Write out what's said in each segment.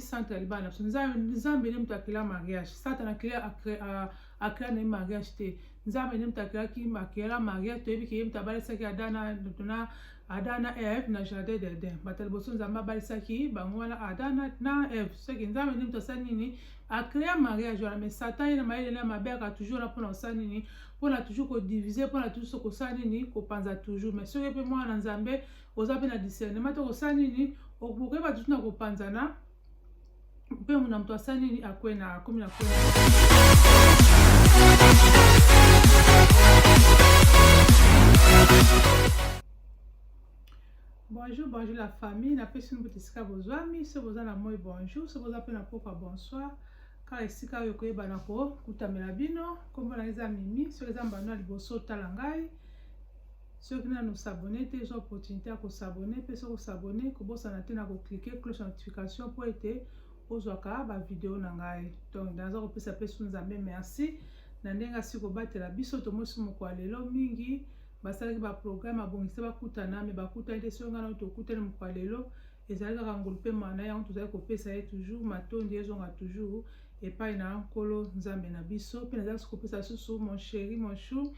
santu ya libala na biso nzambe nde moto akela mariage satana akela na ye mariage te nzambe nde moto akelaki akela mariage toyebi ke ye moto abalisaki adana na ada na eve na jardin d'eden bato ya liboso nzambe abalisaki bango wana ada na eve soki nzambe nde moto asali nini akrea mariage wana mais satan ye na mayele na mabe aka toujours na mpona kosala nini mpona toujours kodivise mpona toujours kosala nini kopanza toujours mais soki mpe mwana na nzambe oza mpe na discernement te osala nini okoyeba tutu na kopanzana mpe mona moto asala nini akwe na akomi na kwena bonjour bonjour la famille napesi mbuta esika bozwami so boza na moi bonjour so boza mpe na pokwa bonsoir kaka esika oyo koyebana kokutamela bino nkombo na eza mimi soki eza mbano ya liboso otala ngai soki nanu s'abonner te zwa opportunité ya ko s'abonner mpe soki osabonne kobosana te na ko cliquer cloche ya notification mpo ete ozwaka ba video na ngai donc naza kopesa mpe su nzambe merci na ndenge asi kobatela biso tomosi mokolo ya lelo mingi basalaki baprograme abongisa bakutana me bakutani te soki ngai nao tokutani mokolo ya lelo ezali kaka ngolu mpe mana yango tozali kopesa ye toujours matondi ezonga toujours epai na nkolo nzambe na biso mpe nazali kopesa susu mon chéri mon chou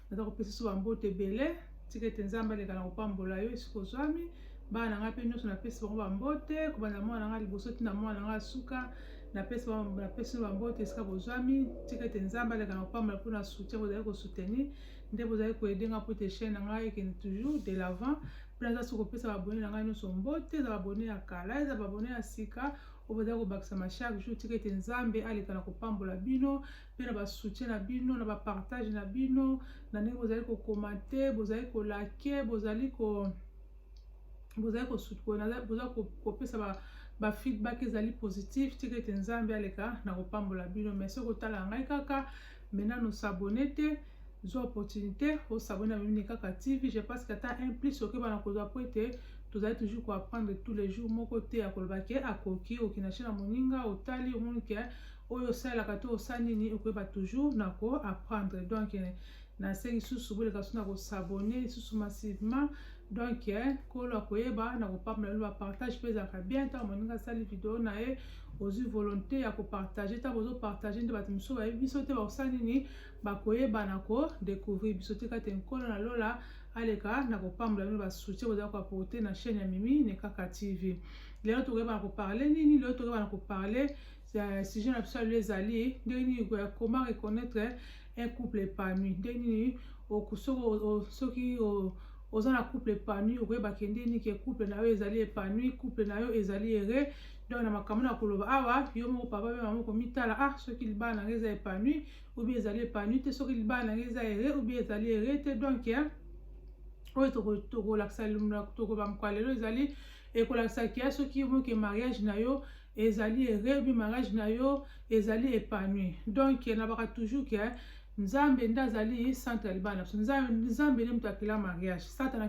naza kopesa so bambote ebele tika ete nzambe aleka na kopambola yo esika ozwami bana na ngai mpe nyonso napesi bango bambote kobanda mwana na ngai liboso ntina mwana na ngai asuka napesi napesi bambote esika bozwami tika ete nzambe aleka na kopambola mpo na soutien bozali kosoutenir nde bozali koyede ngai mpo ete chaine na ngai ekende toujours de l'avant mpe naza so kopesa babone na ngai nyonso mbote eza babone ya kala eza babone ya sika oyo bozali kobakisama chaque jour tika ete nzambe aleka na kopambola bino mpe na basoutien na bino na bapartage na bino na ndenge bozali kokomante bozali kolake bozali ko bozali kopesa bafeedback ezali positif tika ete nzambe aleka na kopambola bino mai soki otala ngai kaka mai nano sabone te zwa opportunité osabone na mimini kaka tv je pense que ata un plus okeba na kozwa mpo ete tozali toujours koapprendre tous les jours moko te ya koloba ke akoki okina chez na moninga otali omoni ke oyo osalelaka to osa nini okoyeba toujours na ko apprendre donc eh, nasengi susu boleka so na kosabone lisusu massivement donc eh, kolo akoyeba na kopambola loba partage mpe ezalaka bien ntango moninga asali video na ye ozwi volonté ya kopartage ntango ozopartage nde bato mosusu bayebi biso te bakosala nini bakoyeba na kodecouvrir biso tika te nkolo na lola aleka na kopambola bino basoutien boza koaporte na chaîne ya mimi nekaka tv lelo tokoyeba na koparle nini lelo tokoyeba na koparle Euh, sujet na biso ya lelo ezali ndenge nini euh, comment reconnaître un couple épanoui ndenge nini soki oza na couple épanoui okoyebake ndenge nini ke couple na yo ezali épanoui couple na yo ezali ere donc na makambo na koloba awa yo moko papa mpe mama komitala ah soki libala na ngai eza épanoui oubien ezali épanoui te soki libala na ngai eza ere oubien ezali ere te donc oyo tokolakisa tokobamkoa lelo ezali ekolakisa kia soki yo moke mariage na yo ezali erebi mariage na yo ezali epanui donc nabaka toujours ke nzambe nde azali centre ya libala na biso nzambe nde moto akela mariage satana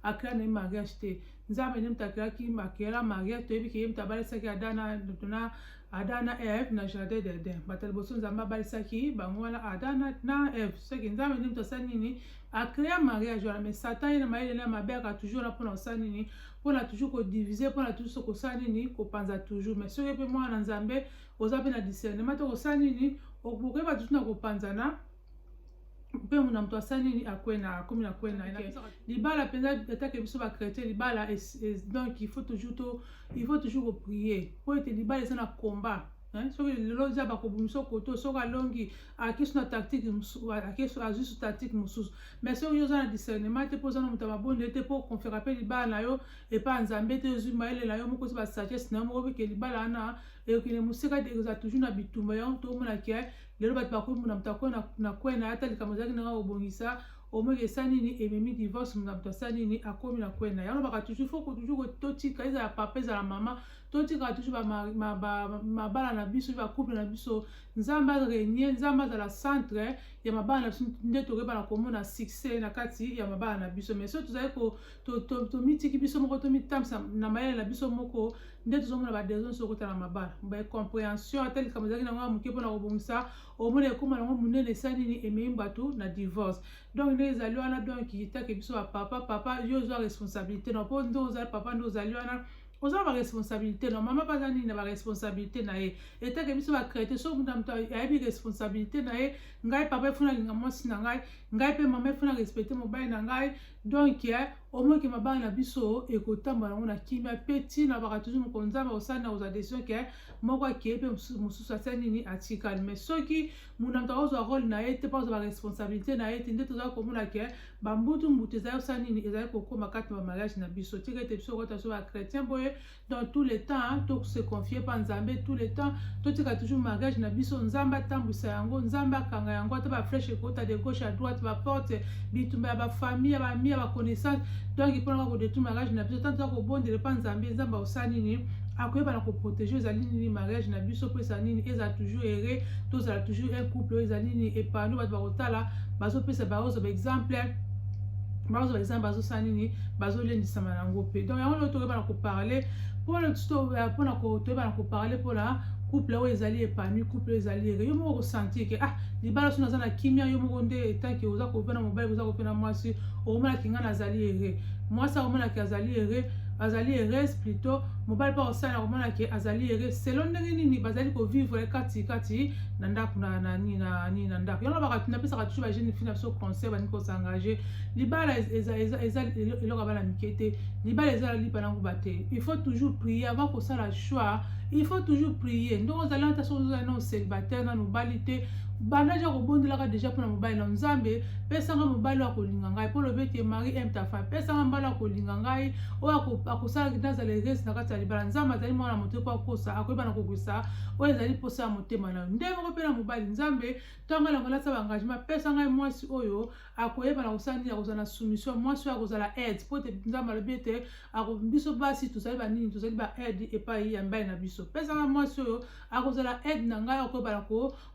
akela na ye mariage te nzambe nde moto akelaki akela mariage toyebi ke ye moto abalisaki adana na ada na eve na jardin d'eden bato ya liboso nzambe abalisaki bango wana ada na eve soki nzambe nde moto asali nini akrea mariage wana mais satan ye na mayele na mabe aka toujours wana mpona kosala nini pona toujours ko diviser pona toujours ko sa nini ko panza toujours mais soki pe mwana nzambe oza pe na discernement to ko sa nini okoke ba toujours na ko panza na mpe muna moto asali nini akwena akomi na kwena libala mpenza atake biso bachrétien libala donc il faut toujours to il faut toujours koprier mpo ete libala eza na combat Hein? soki lelo nzambe akobimisa okoto soki alongi akisi na tactique mosusu azwi su tactique mosusu mais soki yo oza na discernement te mpo oza na moto ya mabondeli te mpo okonfiaka mpe libala na yo epai nzambe te ozwi mayele na yo moko ozwi basagesse na yo moko bike libala wana ekokende mosika te ekozala toujours na bitumba yango toomona ke lelo bato bakoki mona moto akoya na kwei na ye ata likambo ezalaki nanga kobongisa omoi esa nini ememi divorce moto asala nini akomi na kwei na ye yango lobaka toujours fo ko toujours totika ezala papa ezala mama totika toujours mabala na biso ba couple na biso nzambe aregne nzambe azala centre ya mabala na biso nde tokeba na komona succès na kati ya mabala na biso mais soki tozali tomitiki biso moko tomitambisa na mayele na biso moko nde tozomona badesordre nyonso okota na mabala bacomprehension ata likambo ezalaki nango ya moke mpona kobongisa omona ekóma nango monene esa nini emei bato na divorce donc nde ezali wana donc itake biso bapapa papa yo ozwa responsabilité na mpo nde ozali papa nde ozali wana oza na baresponsabilité no mama baza nini na baresponsabilité na ye etake biso bacrete soki moto na moto ayebi responsabilité na ye ngai papa efuna alinga mwasi na ngai ngai mpe mama efuna respecte mobali na ngai donk eh, omoki mabala na biso ekotambola yango na kimia mpe ntina baka toujours mokonzi nzambe akosala na kozwa decision ke moko akei mpe mosusu atia nini atikali mais soki monanto akozwa role na ye te mpo azwa baresponsabilité na ye te nde tozali komona ke bambutu mbutu ezali kosala nini ezali kokóma kati na bamariage na biso tika ete biso kota so bachrétien boye dans tous les temps tose confie mpa nzambe tous les temps totika toujours mariage na biso nzambe atambwisa yango nzambe akanga yango ata baflèche ekota de gauche à droite baporte bitumba ya bafamille ya bami ya baconnaissance donc mpo naka kodetour mariage na biso ntango toza kobondela mpa nzambe nzambe akosala nini akoyeba na koprotege ezali nini mariage na biso mpo ezala nini ezala toujours ere tozala toujours un couple oyo ezali nini epano bato bakotala bazopesa baozo baexemple baozo baexemple bazosala nini bazolendisama yango mpe donc yango nde tokoyeba na koparle mpona toyeba na koparle mpona couple oyo ezali epanoui couple oyo ezali ere yo moko okosentir ke ah libala so naza na kimia yo moko nde etanke oza kope na mobali oza kope na mwasi okomonaki ngai nazali ere mwasi akomonaki azali ere azali heureuse plutot mobali mpe akosala na komona ke azali heureux selon ndenge nini bazali kovivre kati kati na ndako na na nini na nini na ndako yango bakati napesaka toujours ba jeune fille na biso conseil balingi kosengager libala eza eza eza eloko bana mike te libala eza lipa nango ba te il faut toujours prier avant kosala choix il faut toujours prier ndenge ozali ata soki ozali nano célibataire nano obali te banda ja kobondelaka déjà mpona mobali na nzambe pesa nga mobali oyo akolinga ngai mpo olobi ete mari aime ta femme pesa nga mobali oyo akolinga ngai oyo akosala nazala erese na kati ya libala nzambe azali mwana moto mpo akosa akoyeba na kokisa oyo ezali mposa ya motema na yo nde moko mpe na mobali nzambe ntango elanga lasa baengagement pesa ngai mwasi oyo akoyeba na kosala nini akozala na soumission mwasi oyo akozala aide mpo te nzambe alobi ete biso basi tozali banini tozali ba aide epai ya mbali na biso pesa ngai mwasi oyo akozala aide na ngai akoyeba na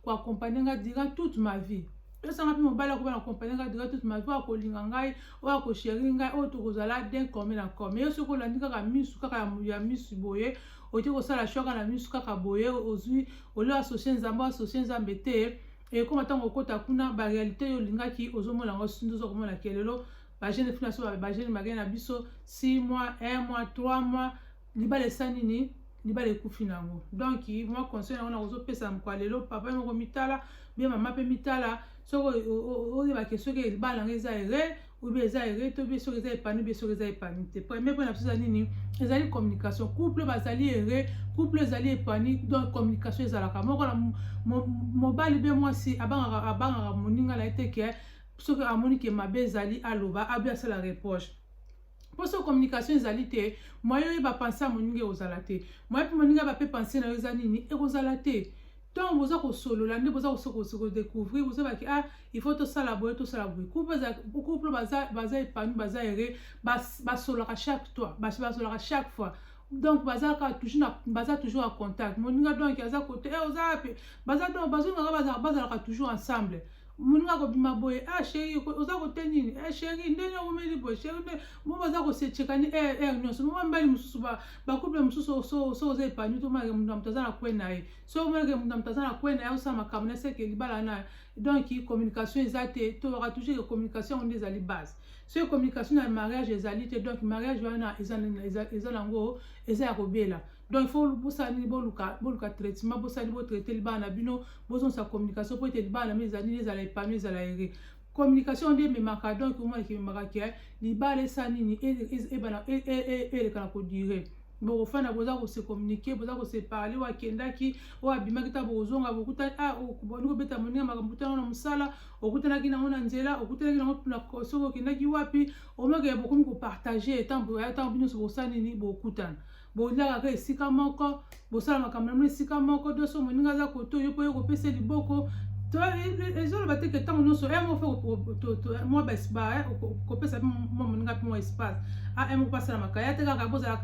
koakompagne ngai durant toute ma vie tosanga mpe mobali akoba na kompani ngai dura toute ma vie akolinga ngai oyo akosheri ngai oyo tokozala den comme na comme yo soki olandi kaka misu kaka ya misu boye otie kosala shwaka na misu kaka boye ozwi olio asosie nzambe asosie nzambe te ekoma eh, ntango okota kuna barealité oyo olingaki ozomona yango sinzi oza komona kelelo bagene finaso bagene magene na biso 6 mois 1 mois 3 mois libala esa nini libala ekufi na yango donc mwa conseil yango nakozopesa moko ya lelo papa moko mitala bie mama mpe mitala soki oyebake soki libala yango eza ere obi eza ere to bie soki eza epani bie soki eza epani te premier mpo na biso eza nini ezali communication couple bazali ere couple ezali epani donc communication ezalaka moko na mobali mpe mwasi abangaka abangaka moninga na ye te ke soki amoni ke mabe ezali aloba abi asala reproche mpo soki communication ezali te moye oyeba pense ya moninga ekozala te moye mpe moninga bape pense na yo eza nini ekozala te ntango boza kosolola nde boza kodecouvrir bozobaki ah il faut tosala boye tosala boye couple baza epanoui baza ere basololaka chaque toi basololaka chaque fois donc bazalaka toujours na baza toujours en contact moninga donc aza kote eh, oza wapi baza donc bazongaka bazalaka toujours ensemble moninga kobima boye ah sheri oza kote nini eh sheri ndenge omeli boye sheri nde moma aza kosechekani er er nyonso moma mbali mosusu bakuple mosusu so oza epani tomonake moto na moto aza na kwe na ye so omonake moto na moto aza na kwe na ye osala makambo na seke libala na donc communication eza te tolaka toujours ke communication yango nde ezali base soki communication na mariage ezali te donc mariage wana eza nango eza ya kobela donc fo bosala nini boluka boluka traitement bosali botraite libala na bino bozongisa communication mpo ete libala na bino ezali nini ezala epano ezala ere communication nde ememaka donc omona kimemaka ke libala esa nini ebana eleka na kodire bokofanda boza kose communiquer boza kose parler oyo akendaki oyo abimaki ntango bokozonga bokutani ah, boni kobeta moninga makambo tana na mosala okutanaki nango na nzela okutanaki nango soki okendaki wapi omaka ya bokomi kopartage ntango bino nyonso bosala nini bokutana boliaka kaka esika moko bosala makambo na bino esika moko doso moninga aza koto yo mpo yo kopesa liboko ezoloba te ke ntango nyonso eh, eh, mwa eh, kopesa mwa moninga mpe mwa espace ah, moko mpe asalamaka ya te kaka bozala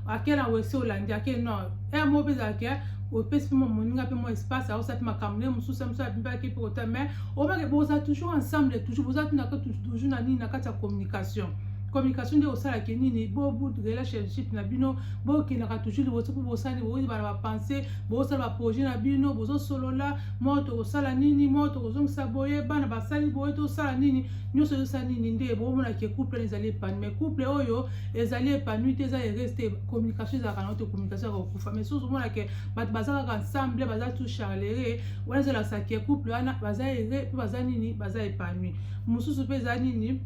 ake na wese olandi ake nord moko mpe ezalaka opesi mpe mwa moninga mpe mwa espace aosa mpe makambo ne mosusu ya mosusu abimbaki mpe kota mais obake boza toujours ensemble toujours boza tunaka toujours na nini na kati ya communication communication nde osala ke nini bobu relationship na bino bokendaka toujours liboso mpo bosani boyebana bapense bosala baprojet na bino bozosolola moko tokosala nini moko tokozongisa boye bana basali boye tosala nini nyonso ezosala nini nde bomona ke couple wana ezali epanu mais couple oyo ezali epanu te eza heureuse te communication ezalaka nango te communication ya kokufa mais soki ozomona ke bato baza kaka ensemble baza tout charlere wana ezolakisa ke couple wana baza heureux mpe baza nini baza epanu mosusu mpe eza nini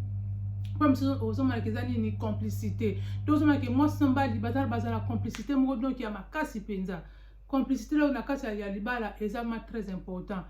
mpo mosusu ozomonaka eza nini complicité to ozomonaka mwasi na mobali bazala bazala complicité moko donk ya makasi mpenza complicité leo na kati ya libala eza ma très important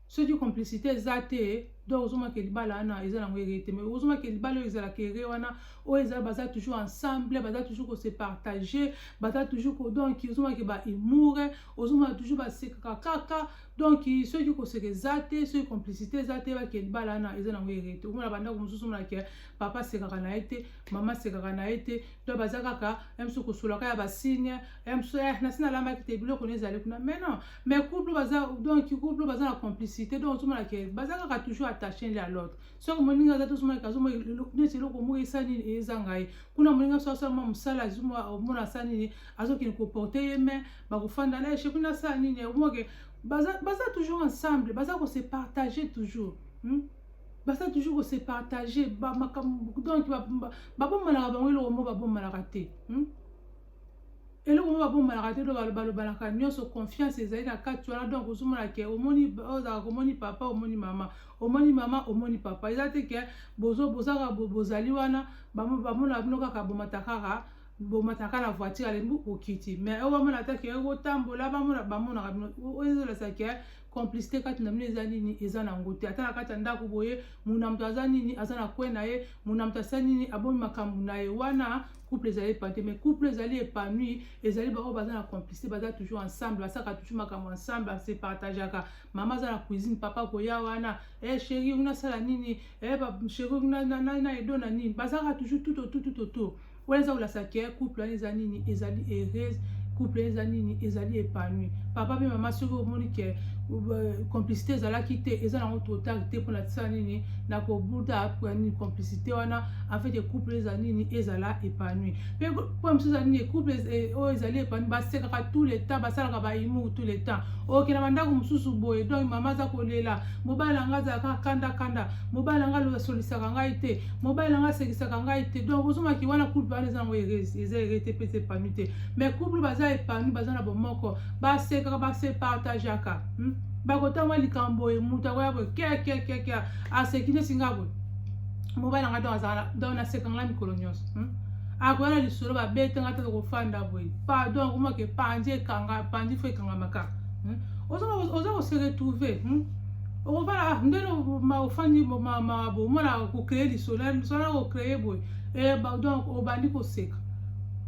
soki complicité eza te donc ozomaka libala wana eza nango ere te mais ozomaka libala oyo ezalaka ere wana oyo ezala baza toujours ensemble baza toujours kose partage baza toujours donc ozomaka ba humour ozomaka toujours basekaka kaka donc soki koseka eza te soki complicité eza te bakende balana eza nango ere te omona bandako mosusu omonake papa asekaka na ye te mama asekaka na ye te to baza kaka ya mosusu kosolaka ya basigne ya mosusu eh, nasi nalamaki te biloko na ezali kuna mais non mais couple baza donc couple baza na complicité donc ozomonake baza kaka toujours attaché nde ya l'autre soki moninga aza te ozomonake azomona neti eloko moko esa nini eza ngai kuna moninga soki asalama mosala omona asa nini azokende koporte ye mais bakofanda na echec kuna asala nini omoke baza, baza toujours ensemble baza ko se partager toujours hmm? baza toujours ko se partager ba makambo donc babomanaka bango eloko moko babomanaka te hmm? eloko moko babomanaka te balobanaka nyonso confiance ezali na kati wana donc ozomona ke omoni ozalaka omoni papa omoni mama omoni mama omoni papa eza te ke bozaka bozali wana bamona bino kaka bomata kaka bomataka na voiture alembi okiti mais oyo bamona ata ke otambola bamona bamonaka bino oyo ezolasa ke complicité kati na bino eza nini eza na yango te ata na kati ya ndako boye muna moto aza nini aza na kwe na ye muna moto asali nini abomi makambo na ye wana couple ezali epani te mais couple ezali epanui ezali baoyo baza na complicité baza toujours ensemble basaka toujours makambo ensemble base partageaka mama aza na cuisine papa koya wana e eh, sheri oyo nasala nini e eh, sheri oyo na edo na nini bazalaka toujours tout autour tout autour wana eza kolakisa ke couple wana eza nini ezali heureuse couple eza nini ezali épanouie papa mpe mama soki omoni ke euh, complicité ezalaki te eza nango totale te mpona tisala nini na kobuta mpoya nini complicité wana afin ke couple eza nini ezala épanouie mpe mpo mosusu eza nini couple eh, oyo ezali épanouie basekaka tout le temps basalaka baimour tout le temps okenda bandako mosusu boye donc mama aza kolela mobali na ngai azalaka kanda kanda mobali na ngai asolisaka ngai te mobali na ngai asekisaka ngai te donc ozongaki wana couple wana eza yango eza erete mpe eza epanu te mais couple baza epanu baza na bomoko basekaka basepartageaka hmm? bakotanga likambo boye moto akoya boye kiakiakiakia aseki neti ngai boye mobali na ngai donc azala donc naseka ngai mikolo nyonso hmm? akoya na lisolo babete ngai tata kofanda boye pardon akomaka epanzi ekanga epanzi fo ekangamaka hmm? oza koseretrouve okofana ah, ndeni ofandi omona kokreye lisolo ya lisolo ya kokreye boye eh, donc obandi koseka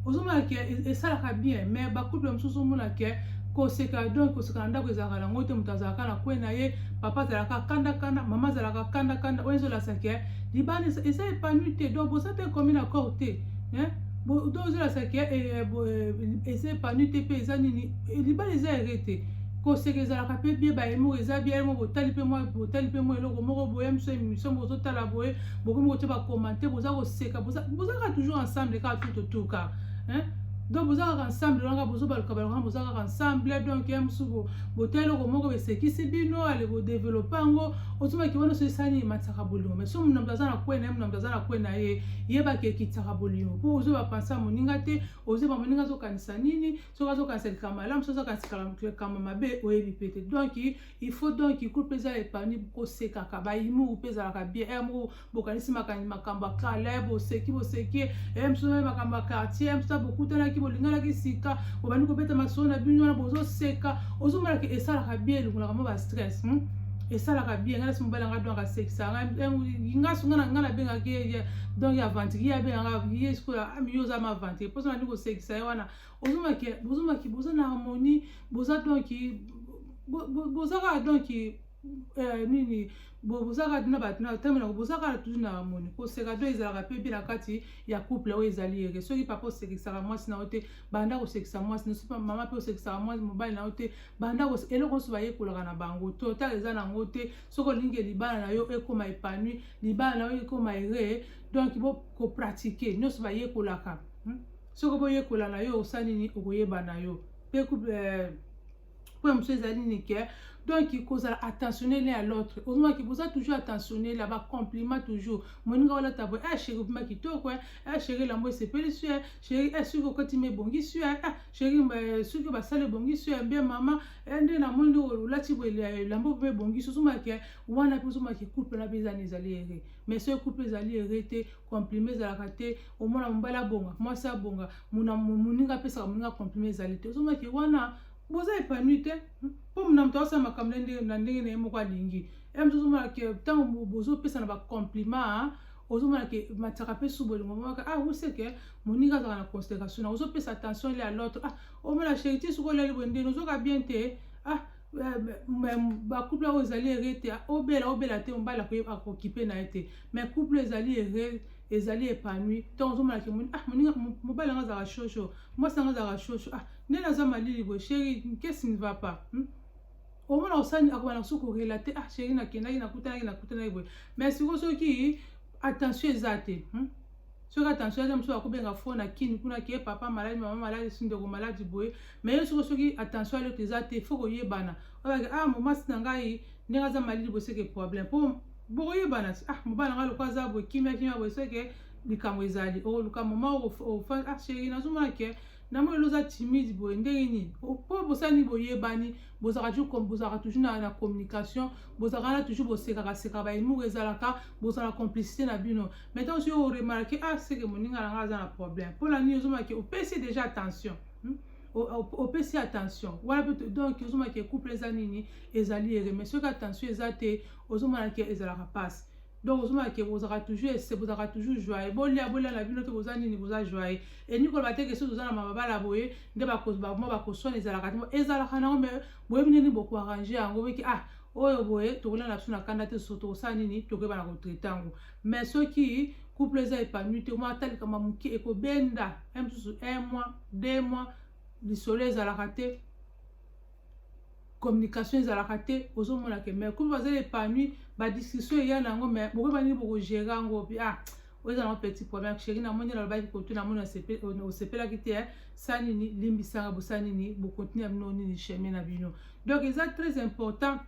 ozomona ke e, esalaka bien mais bacouple mosusu omona ke koseka donc koseka na ndako ezalaka nango te moto azalaka na kwe na ye papa azalaka kanda kanda mama azalaka kanda kanda oyo ezolasa ke libanda eza epanui te donc boza te komi na corps te donc ozolasa ke eza epanui te mpe eza nini libanda eza ere te koseka ezalaka mpe bie bayemo eza bie yango botali mpe mwa botali mpe mwa eloko moko boye miso emission bozotala boye bokomi kotia bakomante boza koseka bozalaka toujours ensemble kaka tout autour kaka donc boza kaka ensemble wana kaka bozobaluka baluka wana boza kaka ensemble donc ya mosusu botali eloko moko esekisi bino ale kodevelope yango ozomaki wana so esani ematisaka bolingo mai so monamoto aza na kwe na ye monamoto aza na kwe na ye yebaki ekitisaka bolingo mpo ozoba pansa moninga te ozoba moninga azokanisa nini soki azokanisa likambo malamu soki azokanisa likambo mabe oyebi mpe te donc il faut donc cour mpe ezala epani kosekaka bayimuku mpe ezalaka bien e moko bokanisi makanisi makambo ya kala eh, boseki boseki e eh, mosusu naye makambo ya quartier eh, mosusu bokutanaki bolinganaki sika bobandi kobeta masolo na bino wana bozoseka ozomonaka esalaka bien elongolaka mwa bastress hmm? esalaka bien ngai nasi mobali yanga donc asekisa nga sunga na ngai nabengaki ye donc aventurier abengaka ye sikoyo amiyo oza ma aventurier mposa nandi kosekisa ye wana ozomaki bozomaki boza na harmonie boza donc boza kaka donc euh, nini boza kaka na bato na ntango nako boza kaka toujours na harmonie koseka to ezalaka mpe mpe na kati ya couple oyo ezali ere soki papa osekisaka mwasi na yo te banda kosekisa mwasi na soki mama mpe osekisaka mwasi mobali na yo te banda eloko nyonso bayekolaka na bango total eza na yango te soki olingi libala na yo ekoma epanui libala na yo ekoma ere donc bokopratike nyonso bayekolaka hmm? soki boyekola na yo osali nini okoyeba na yo mpe eh, point mosusu ezali nini ke donc kozala attentionnel ya l'autre ozomaki boza toujours attentionnel ya bacompliment toujours moninga olata boye ah sheri obima kitoko ah sheri elambo esepeli su sheri ah soki okoti ma ebongi su ah sheri soki basala ebongi su mbe mama nde namoni nde olati elambo obima ebongi su ozomaki wana mpe ozomaki couple na mpe ezani ezali ere mais soki couple ezali ere te compliment ezalaka te omona mobali abonga mwasi abonga moninga apesaka moninga compliment ezali te ozomaki wana boza epanui te mpo na moto asala makambo na ndenge na ye moko alingi ya moto ozomona ke ntango bozopesana bacompliment ozomona ke matyaka mpe su bolingo momaka ah oseke moninga azalaka na consideration na ozopesa attention le ya l'autre ah omona sheriti soki olali boye ndeni ozoka bien te ah ba couple oyo ezali ere te obela obela te mobali akokipe na ye te mais couple ezali ere ezali epanui to ozomona ke ah, mobali yango azalaka shosho mwasi yango azalaka shosho ah nde naza malili boye sheri kesi ne va pas hmm? omona osani akobana kosu korelate ah sheri nakendaki nakutanaki nakutanaki boye mais sikoyo soki attention eza te hmm? soki attention aza mosusu akobenga fo na kini kuna ke papa maladi mama maladi si ndeko maladi boye me ye soko soki attention alioto eza te fo koyebana oyebake ah momasi na ngai ndenge aza malidi boye seke problème mpo bokoyebana ah mobali na ngai lokola aza boye kimia kimia boye seke likambo ezali okoluka moma ofandi ah sheri nazomona ke na moi eloza timide boye ndenge nini mpo bosani boyebani bozalaka toujours bozalaka toujours na, na communication bozalaka na toujours bosekaka seka baemour ezalaka bozala complicité na bino mais ntango soki oremarke ah seke moninga na ngai aza na problème mpo na nini ozomaki opesi déjà attention hmm? opesi attention wana mpe donc ozomona ke couple eza nini ezali ere mais soki attention eza te ozomona ke ezalaka mpasi donc ozomona ke bozalaka toujours ese bozalaka toujours joye bolia bolia na bino te boza nini boza joye elingi koloba te ke soki oza na mababala boye nde bamwa bakoswana ezalaka te ezalaka nango mais boyebi nini bokoarrange yango beke ah oyo boye tokolia na biso na kanda te so tokosala nini tokoyeba na kotraite yango mais soki couple eza epanui te mwa ata likambo moke ekobenda ya mosusu un mois deux mois lisolo ezalaka te communication ezalaka te ozomona ke mai couple bazali epanui badiscussion eya na yango mai bokoyeba nini bokogere yango obi ah oyo eza nango petit problème sheri namoni nalobaki kotu namoni osepelaki te eh. sa nini limbisanga bosa nini bokontinue ya bino nini chemin na bino donc eza très important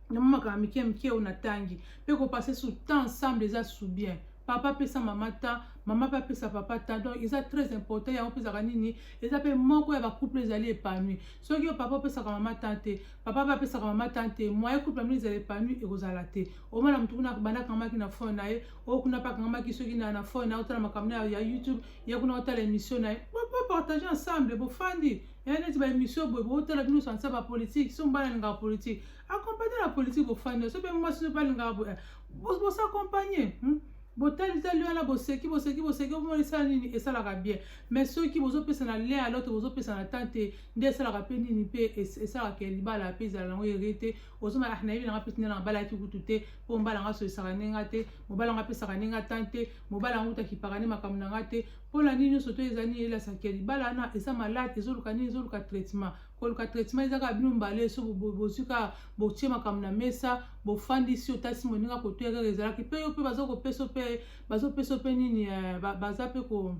na mwa makambo mike mike oyo natangi mpe kopase su temps ensemble eza su bien papa apesa mama temps mama mpe apesa papa temps donc eza très important yango mpezaka nini eza mpe moko ya bacouple ezali épanouie soki yo papa opesaka mama temps te papa mpe apesaka mama temps te moyen couple yango ezala épanouie ekozala te omona motu kuna banda akangamaki na fone na ye oyo kuna mpe akangamaki soki na na fone na ye otala makambo na ya youtube ye kuna otala émission na ye bopartage ensemble bofandi ya neti ba émission boye botala bino sansa ba politique so mobali alingaka politique accompagne la politique ofanda so mpe mwasi so mpe alingaka boye bosa accompagne hmm? botalitali wana boseki boseki boseki omoni esala nini esalaka bien mais soki bozopesa na lien ya lote bozopesa na temps te nde esalaka mpe nini mpe esalaka ya libala mpe ezala yango ere te ozomaka ah, nayebi nanga mpe tindela nga bala yaki kutu te mpo mobala nga solisaka nde nga te mobala nga apesaka nde nga temps te mobala nga kutu akipaka nde makambo na nga te mpola nini nyonso to eza nini elasaki ya libala wana eza malade ezoluka nini ezoluka traitement koluka traitement eza kaka bino mbale so bozwi kaka botie makambo na mesa bofandisi otasi moninga akotoya kaka ezalaki mpe yo mpe baza kopesa mpe bazopesa mpe nini eh, baza mpe ko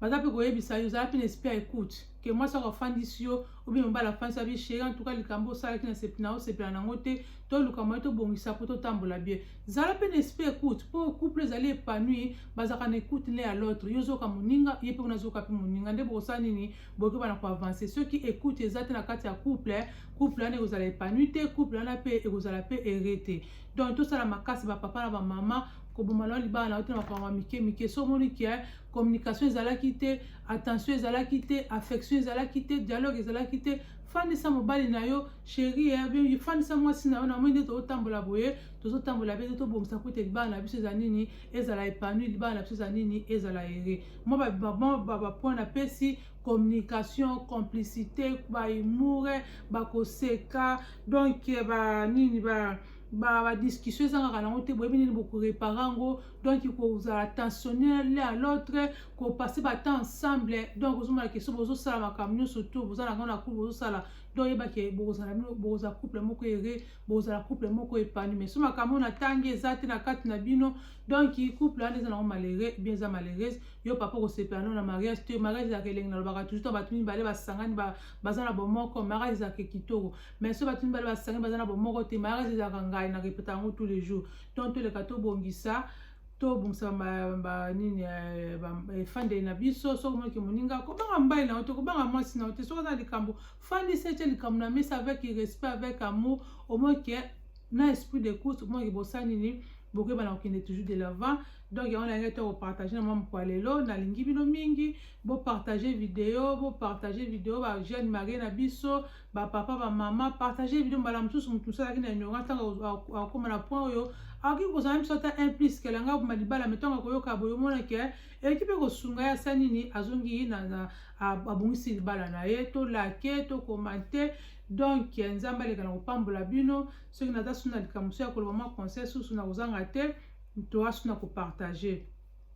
baza mpe koyebisa yo ozala mpe na esprit ya écoute ke mwasi ako afandisi yo obi mobali afandisa bi sheri en tout cas likambo osalaki na osepela nango te toluka moye tobongisa mpo totambola bien zala mpe na esprit écoute mpo couple ezali épanouir bazalaka na écoute l'un à l'autre yo ozoka moninga ye mpe kuna azoka mpe moninga nde bokosala nini bokoki bana koavance soki écoute eza te na kati ya couple couple wana ekozala épanouir te couple wana mpe ekozala mpe ere te donc tosala makasi bapapa na bamama koboma nao libala na yo te na makambo ya mike mike so omoni ke communication ezalaki te attention ezalaki te affection ezalaki te dialogue ezalaki te fandisa mobali na yo sheri eh, fandisa mwasi na yo na moi nde tozotambola boye tozotambola mpe nde tobongisa kuta libala na biso eza nini ezala epanui libala na biso eza nini ezala ere mwa bapoint napesi communication complicité bahumoure bakoseka donc eh, banini ba badiscussion ezangaka nango te boyebi nini bokorepara yango donc kozala tensionner l'un à l'autre kopase batemps ensemble donc ozomona ke so bozosala makambo nyonso to boza nango na couple bozosala donc yeba ke bokozala bino bokozala couple moko ere bokozala couple moko epani mais so makambo na ntangi eza te na kati na bino donc couple wana eza nango malere bien eza malheureuse yo papa okosepela no na mariage te mariage ezalaka elengi nalobaka toujours to bato mibale basangani baza na bomoko mariage ezalaka kitoko mais so bato mibale basangani baza na bomoko te mariage ezalaka ngai na repeta yango tous les jours donc toleka tobongisa tobongisa banini eh, eh, efandeli na biso soki omoki moninga kobanga mbai na yo te kobanga mwasi na yo te soki oza likambo fandisa etye likambo na mesa avec respect avec amour omoki eh, na esprit de course omoki bosani nini bokoyebana kokende toujours de l'avant donc yango nalingi te kopartage na mwa mokwa lelo nalingi bino mingi bopartage video bopartage video bajeune marie na biso ba papa ba mama partage video mbala mosusu moto mosusu azalaki na ignorance ntango akokoma na point oyo akoki kozala biso ata un plus kela ngai oboma libala me ntango akoyoka boye omona ke eleki mpe kosunga ye asa nini azongi abongisi libala na ye to lake to komante donc nzambe aleka na kopambola bino soki naza suna likambo mosusu ya koloba mwa conseil susu na kozanga te toasuna kopartage